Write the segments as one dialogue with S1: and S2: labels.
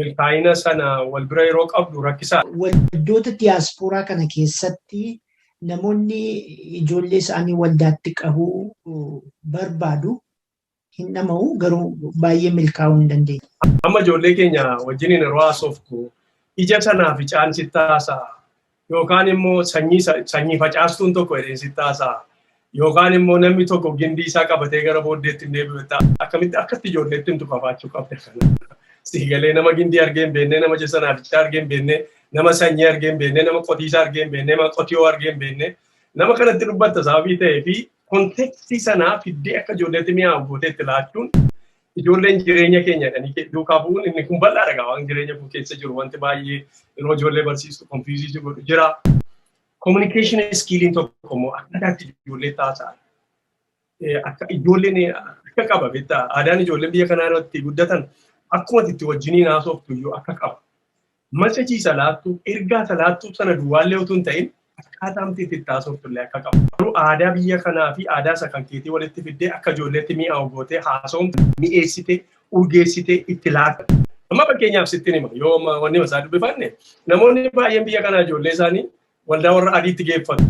S1: milkaa'ina
S2: sana wal bira yeroo qabdu rakkisaa. Waldoota
S1: diyaaspooraa kana keessatti namoonni ijoollee isaanii waldaatti qabuu barbaadu hin dhama'u garuu baay'ee milkaa'uu hin dandeenye. Amma ijoollee keenya
S2: wajjin yeroo haasoftu ija sanaa fi caansittaa isaa yookaan immoo sanyii sa- sanyii facaastuun tokko jedheen sitti haasa'a. Yookaan immoo namni tokko gindii isaa qabatee gara booddeetti hin deebi'u ta'a. Akkamitti akkatti ijoolleetti himtu kafaachuu qabda kana. Sii galee nama gindii argee hin beekne, nama jessa naafichaa argee hin beekne, nama sanyii argee hin beekne, nama qotiisaa argee hin beekne, nama qotiyoo argee hin beekne. Nama kanatti dubbatta sababii ta'ee fi kontekstii sanaa fiddee akka ijoolleetti mi'aawu gootee itti laachuun ijoolleen jireenya keenya kan duukaa bu'uun inni kun bal'aadha gaa waan jireenya koo keessa jiru wanti baay'ee yeroo ijoollee barsiistu konfiizii jiru jira. Kominikeeshin iskiiliin tokko immoo akkataatti ijoollee taasaa akka ijoolleen akka qaba beektaa aadaan ijoolleen biyya kanaa irratti guddatan akkuma itti wajjiniin haasoftu iyyuu akka qaba. Machachiisa laattuu, ergaa ta laattuu tana duwwaallee utuu hin ta'in akkaataamti itti itti haasoftullee akka qabu. Garuu aadaa biyya kanaa fi aadaa isa kan keetii walitti fiddee akka ijoolleetti mi'aawu gootee haasawamtu mi'eessitee, urgeessitee itti laata. Amma fakkeenyaaf sittin hima yoo amma wanni isaa dubbifanne namoonni baay'een biyya kanaa ijoollee isaanii waldaa warra adiitti geeffatu.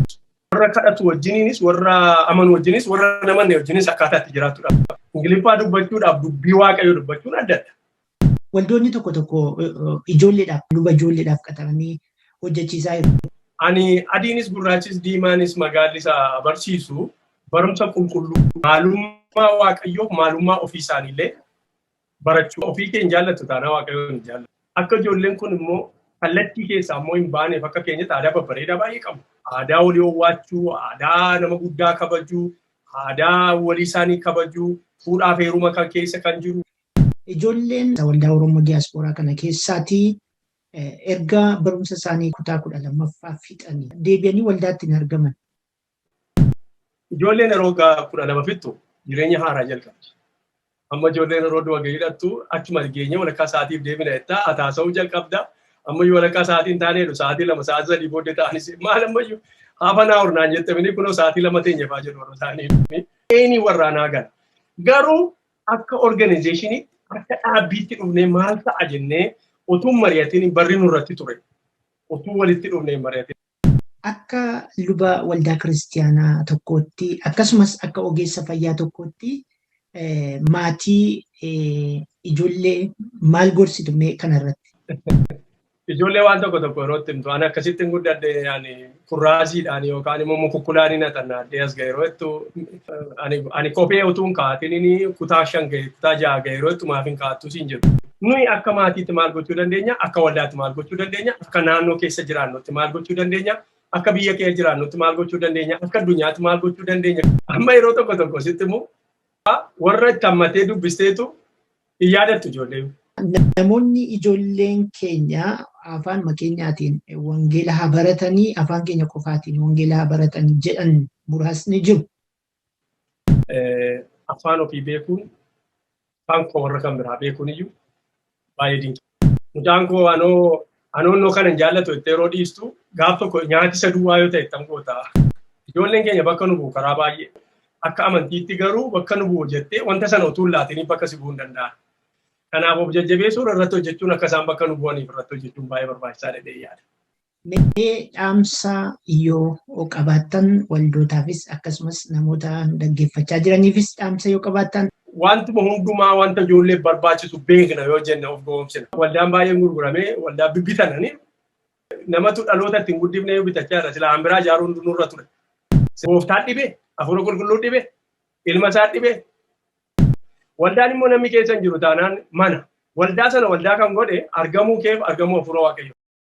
S2: Warra kadhatu wajjiniinis warra amanu wajjinis warra namanne wajjinis akkaataa itti jiraattu dha. Ingiliffaa dubbachuudhaaf dubbii waaqayyoo dubbachuun addadha. Waldoonni tokko
S1: tokko ijoolleedhaaf luba ijoolleedhaaf qaxaranii hojjechiisaa jiru. Ani adiinis
S2: gurraachis diimaanis magaalli isa barsiisu barumsa qulqulluu maalummaa waaqayyoof maalummaa ofii isaaniillee barachuu ofii kee hin jaallatu taanaa waaqayyoo hin jaallatu. Akka ijoolleen kun immoo kallattii keessaa immoo hin baaneef akka keenyatti aadaa babbareedaa baay'ee qabna. Aadaa walii owwaachuu, aadaa nama guddaa kabajuu, aadaa walii isaanii kabajuu, fuudhaaf heeruma kan keessa kan jiru, Ijoolleen
S1: waldaa Oromoo Diyaaspooraa kana keessaati erga barumsa isaanii kutaa 12ffaa fixanii deebi'anii waldaatti hin argaman. Ijoolleen
S2: yeroo waggaa 12 fixxu jireenya haaraa jalqabdi. Amma ijoolleen yeroo du'a gahiidhattu achuma geenyee walakkaa sa'aatiif deebina jettaa hataasa'uu jalqabda. Amma iyyuu walakkaa sa'aatii hin taane jedhu sa'aatii lama sa'aatii sadii booddee ta'anis maal amma iyyuu hafa naa hurnaan jettamini kunoo sa'aatii lama teenyefaa jedhu warra isaanii. Eeni warraanaa gala. Garuu akka organizeeshiniitti akka dhaabbiitti dhufnee maal ta'a jennee utuu mari'atiin barri nurratti ture. Utuu walitti dhufnee mari'atiin. Akka
S1: luba waldaa kiristiyaanaa tokkootti akkasumas akka ogeessa fayyaa tokkootti maatii ijoollee maal gorsitu mee kanarratti?
S2: Ijoollee waan tokko tokko yeroo itti himtu ani akkasitti hin guddadhe ani kurraasiidhaan yookaan immoo mukukkulaan hin haxannaadhee as ga'e yeroo ittu ani kophee utuu hin kaa'atiin kutaa shan ga'e kutaa ja'a ga'e yeroo ittu maaf hin kaa'attu siin jedhu. Nuyi akka maatiitti maal gochuu dandeenya akka waldaatti maal gochuu dandeenya akka naannoo keessa jiraannutti maal gochuu dandeenya akka biyya keessa jiraannutti maal gochuu dandeenya akka addunyaatti maal gochuu dandeenya amma yeroo tokko tokko sitti immoo warra itti hammatee dubbisteetu Hin yaadattu ijoollee. Namoonni
S1: ijoolleen keenya afaanuma keenyaatiin wangeela haa baratanii afaan keenya qofaatiin wangeela haa baratanii jedhan muraasni jiru.
S2: Afaan ofii beekuun afaan koo warra kan biraa beekuun iyyuu baay'ee dinqii. Mucaan koo anoo anoonnoo kana hin jaallatu jettee yeroo dhiistu gaaf tokko nyaati isa duwwaa yoo ta'e tan goota. Ijoolleen keenya bakka nu bu'u karaa baay'ee akka amantiitti garuu bakka nu bu'u jettee wanta sana utuu hin laatiniif bakka si bu'uu hin danda'an. Kanaaf of jajjabeessuun irratti hojjechuun akka isaan bakka nu bu'aniif irratti hojjechuun baay'ee barbaachisaa dha jedhee yaada. Mee
S1: dhaamsa yoo qabaattan waldootaafis akkasumas namoota dhaggeeffachaa jiraniifis dhaamsa yoo qabaattan. Wantuma hundumaa
S2: wanta ijoollee barbaachisu beekna yoo jenne of gowwoomsina. Waldaan baay'een gurgurame waldaa bibbitanani namatu dhaloota ittiin guddifne yoo bitachaa jira silaa hanbiraa ijaaruun nurra ture. Gooftaan dhibe, hafuura qulqulluu dhibe, ilma isaa dhibe. Waldaan immoo namni keessa hin jiru taanaan mana. Waldaa sana waldaa kan godhe argamuu keef argamuu hafuura waaqayyoo.